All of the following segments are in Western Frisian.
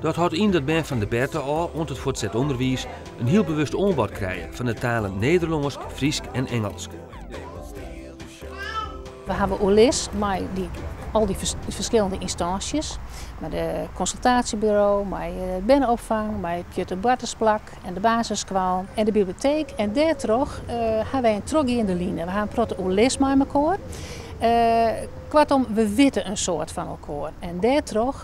Dat hâldt yn dat bern fan de berte ôf oant it fuortset ûnderwiis in hiel bewust oanbod krije fan de talen Nederlânsk, Frysk en Ingelsk. We hawwe oerlis mei al dy ferskillende ynstânsjes, mei de konsultaasjeburo, mei berneopfang, mei it pjutteboartersplak en de basisskoal en de biblioteek en dêrtroch ha wy in trochgeande line. We ha in protte oerlis mei elkoar. Koartom, we witte in soad fan elkoar en dêrtroch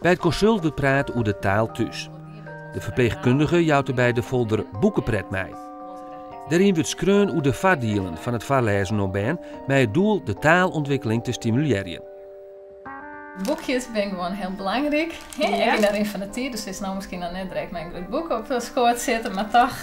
By it konsult wurdt praat oer de taal thús. De ferpleechkundige jout derby de folder Boekepret mei. Dêryn wurdt skreaun oer de foardielen fan it foarlêzen oan bern mei it doel de taalûntwikkeling te stimulearjen. Boekjes binne gewoan hiel belangryk. Ek yn de rin fan de tiid. Dy sil no miskien noch net direkt mei in grut boek op skoat sitte, mar toch.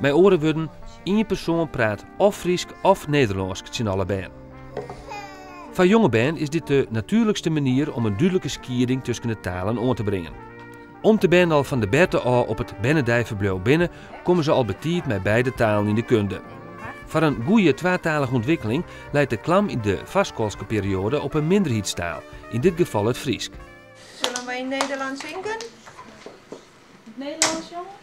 Mei oare wurden, ien persoan praat of Frysk of Nederlânsk tsjin alle bern. Foar jonge bern is dit de natuerlikste manier om in dúdlike skieding tusken de talen oan te bringen. Om't de bern al fan de berte ôf op it bernedeiferbliuw binne, komme se al betiid mei beide talen yn de kunde. Foar in goeie twatalige ûntwikkeling leit de klam yn de foarskoalske perioade op 'e minderheidstaal, yn dit gefal it Frysk. Sille wy Nederlânsk singen? Nederlânsk sjonge?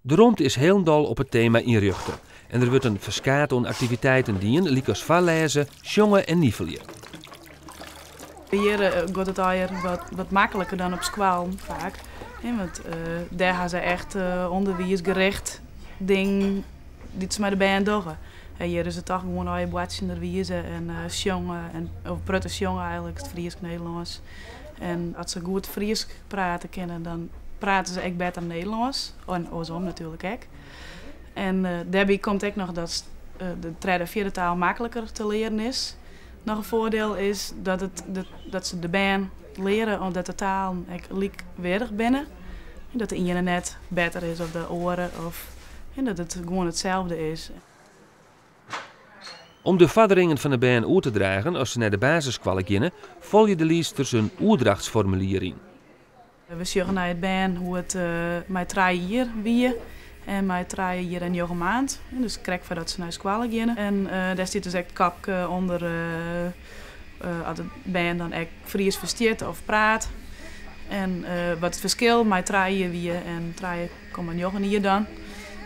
De romte is hielendal op it tema ynrjochte en der wurdt in ferskaat oan aktiviteiten dien, lykas foarlêze, sjonge en nivelje. Hjir giet it earder wat makliker dan op skoallen faak, want dêr ha se echt ûnderwiisrjochte dingen dy't se mei de bern dogge. Hjir is it dochs gewoan earder boartsjenderwize en sjonge, in protte sjonge eigentlik, Frysk-Nederlânsk. En as se goed Frysk prate kinne, dan prate se ek better Nederlânsk. En oarsom natuerlik ek. En dêrby komt ek noch dat de tredde en fjirde taal makliker te learen is. Noch in foardiel is dat se de bern leare dat de talen ek lykweardich binne. Dat de iene net better is as de oare of dat it gewoan itselde is. Om de foarderingen fan 'e bern oer te dragen as se nei de basisskoalle geane, folje de liedsters in oerdrachtsformulier yn. We sjogge nei it bern hoe it mei trije jier wie en mei trije jier en njoggen maand, dus krekt foardat se nei skoalle geane. En dêr stiet dus ek it kopke ûnder as it bern dan ek Fries ferstiet of praat en wat it ferskil mei trije jier wie en trije Komma njoggen jier dan.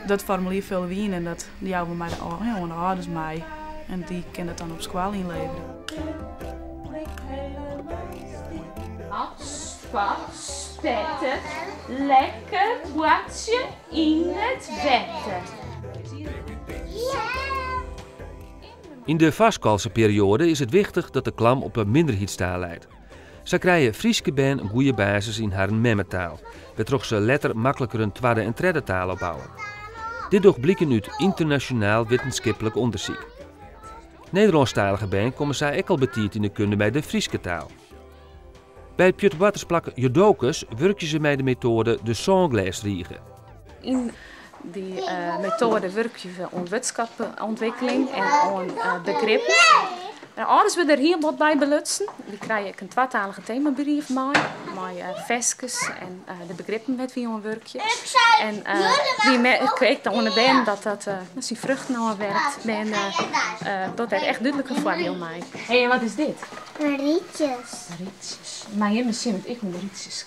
Dat formulier folje we yn en dat jouwe we mei de oan de âlders mei en dy kinne dat dan op skoalle ynlevere. Spetterje lekker boartsje yn it wetter. Yn de foarskoalske perioade is it wichtich dat de klam op 'e minderheidstaal leit. Sa krije Fryske bern in goede basis yn harren memmetaal, wêrtroch't se letter makliker in twadde en tredde taal opbouwe. Dit docht bliken út ynternasjonaal wittenskiplik ûndersyk. Nederlânsktalige bern komme sa ek al betiid yn de kunde mei de Fryske taal. By it pjutteboartersplak Jodokus wurkje se mei de metoade de Sânglêsrige. Yn dy eh, metoade wurkje we oan wurdskatûntwikkeling en oan eh, begrippen. Nou, âlders wurde der hiel wat by belutsen. Dy krije ek in twatalige themabrief mei, mei uh, ferskes en eh, de begrippen dêr't wy oan wurkje. En uh, wy merke ek oan de bern dat dat uh, syn fruchten ôfwerpt. En dat het echt dúdlik in foardiel mei. Hé, hey, en wat is dit? Rietjes. Rietjes. Maar je misschien het ik moet rietjes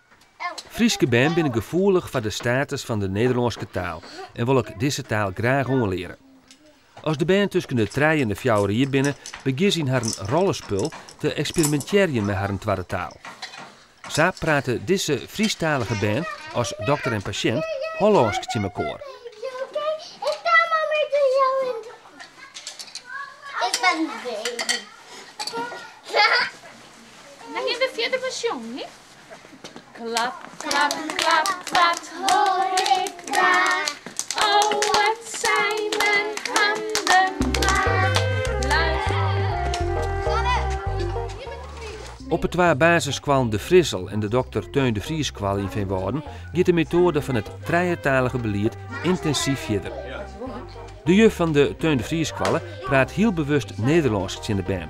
Fryske bern binne gefoelich foar de status fan de Nederlânske taal en wolle ek dizze taal graach oanleare. As de bern tusken de trije en de fjouwer jier binne, begjinne se yn harren rollespul te eksperimintearjen mei harren twadde taal. Sa prate dizze Frysktalige bern as dokter en pasjint Hollânsk tsjin mekoar. Klap, klap, klap, wat hoor ik daar? Oh, wat zijn mijn handen klaar. Op de twa basisskoallen De Frissel en de Dokter Theun de Vriesskoalle yn Feanwâlden giet de metoade fan it trijetalige belied yntinsiver fierder. De juf fan de Theun de Vriesskoalle praat hiel bewust Nederlânsk tsjin de bern,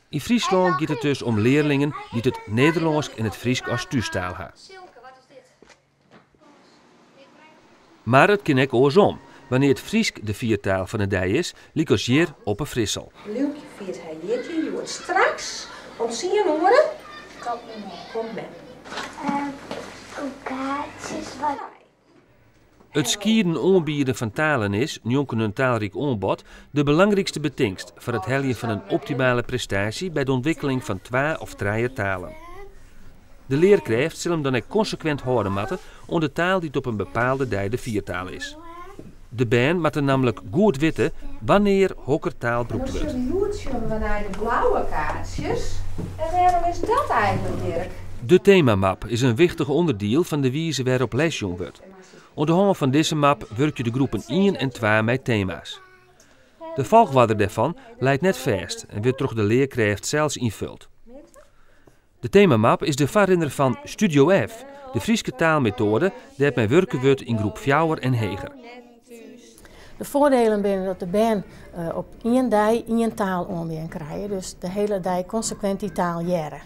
Yn Fryslân giet it dus om learlingen dy't it Nederlânsk en it Frysk as thústaal ha. Mar it kin ek oarsom, wannear it Frysk de fiertaal fan 'e dei is, lykas hjir op 'e Frissel. Lilkje fiert har jierdei hjoed. Straks om tsien oere komt mem. It skieden oanbieden fan talen is, njonken in taalryk oanbod, de belangrykste betingst foar it heljen fan in optimale prestaasje by de ûntwikkeling fan twa of trije talen. De learkrêft sil him dan ek konsekwint hâlde moatte oan de taal dy't op in bepaalde dei de fiertaal is. De bern moatte nammentlik goed witte wannear hokker taal brûkt wurdt. No sille, hjoed sjonge we nei de blauwe kaartsjes. En wêrom is dat eigenlik, Dirk? De temamap is in wichtich ûnderdiel fan de wize wêrop les jûn wurdt. Oan de hân fan dizze map wurkje de groepen ien en twa mei tema's. De folchoarder dêrfan leit net fêst en wurdt troch de learkrêft sels ynfold. De temamap is de foarrinner fan Studio F, de Fryske taalmetoade dêr't mei wurke wurdt yn groep fjouwer en heger. De foardelen binne dat de bern op ien dei ien taal oanbean krije, dus de hiele dei konsekwint dy taal hearre.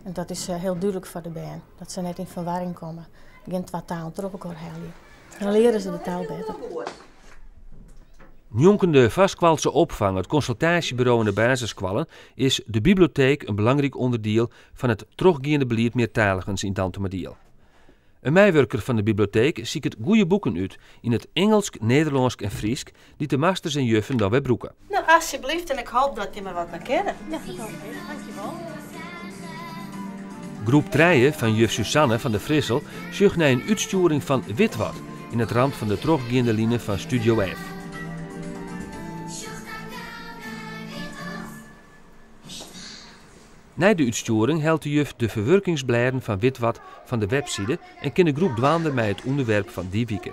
En dat is hiel dúdlik foar de bern, dat se net yn ferwarring komme, gjin twa talen troch elkoar helje. Dan leare se de taal better. Njonken de foarskoalse opfang, it konsultaasjeburo en de basisskoallen is de bibleoteek in belangryk ûnderdiel fan it trochgeande belied meartaligens yn Dantumadiel. In meiwurker fan de bibleoteek siket goede boeken út yn it Ingelsk, Nederlânsk en Frysk dy't de masters en juffen dan wer brûke. No, asjeblyft, en ik hoop dat jim der wat mei kinne. Ja, dat hoop ik ek. Dank je wol. Groep trije fan juf Susanne van der Frissel sjocht nei in útstjoering fan Witwat yn it ramt fan de trochgeande line fan Studio F. Nei de útstjoering hellet de juf de ferwurkingsblêden fan Witwat fan de webside en kin de groep dwaande mei it ûnderwerp fan dy wike.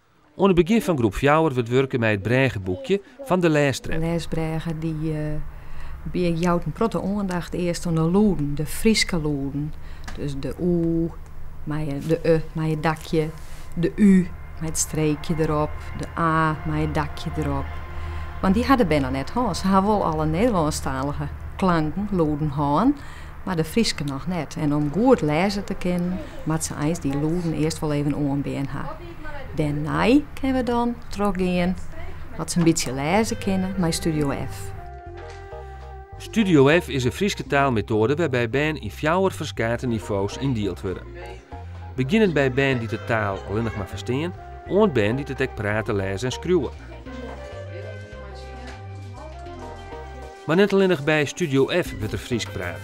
Oan it begjin fan groep fjouwer wurdt wurke mei it brêgeboekje fan de lêstrep. Lêsbrêge dy jout in protte oandacht earst oan de lûden, de Fryske lûden. Dus de û mei de e mei it dakje, de ú mei it streekje derop, de a mei it dakje derop. Want dy ha de bern noch net hân. Se ha wol alle Nederlânsktalige klanken, lûden, hân, mar de Fryske noch net. En om goed lêze te kinnen, moatte se eins dy lûden earst wol even oanbean ha. Dêrnei kinne we dan trochgean at se in bytsje lêze kinne mei Studio F. Studio F is in Fryske taalmetoade wêrby't bern yn fjouwer ferskate nivo's yndield wurde. Begjinnend by bern dy't de taal allinnich mar ferstean, oant bern dy't it ek prate, lêze en skriuwe. Mar net allinnich by Studio F wurdt der Frysk praat.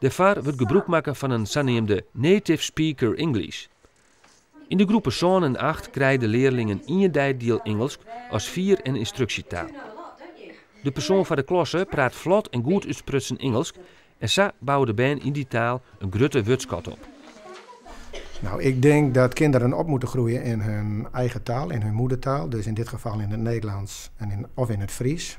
Dêrfoar wurdt gebrûk makke fan in saneamde Native Speaker English. Yn de groepen sân en acht krije de learlingen ien deidiel Ingelsk as fier- en ynstruksjetaal. De persoan foar de klasse praat flot en goed útsprutsen Ingelsk en sa bouwe de bern yn dy taal in grutte wurdskat op. Nou, ik dink dat kinderen op moeten groeien in hun eigen taal, in hun moedertaal, dus in dit geval in het Nederlands of in het Fries.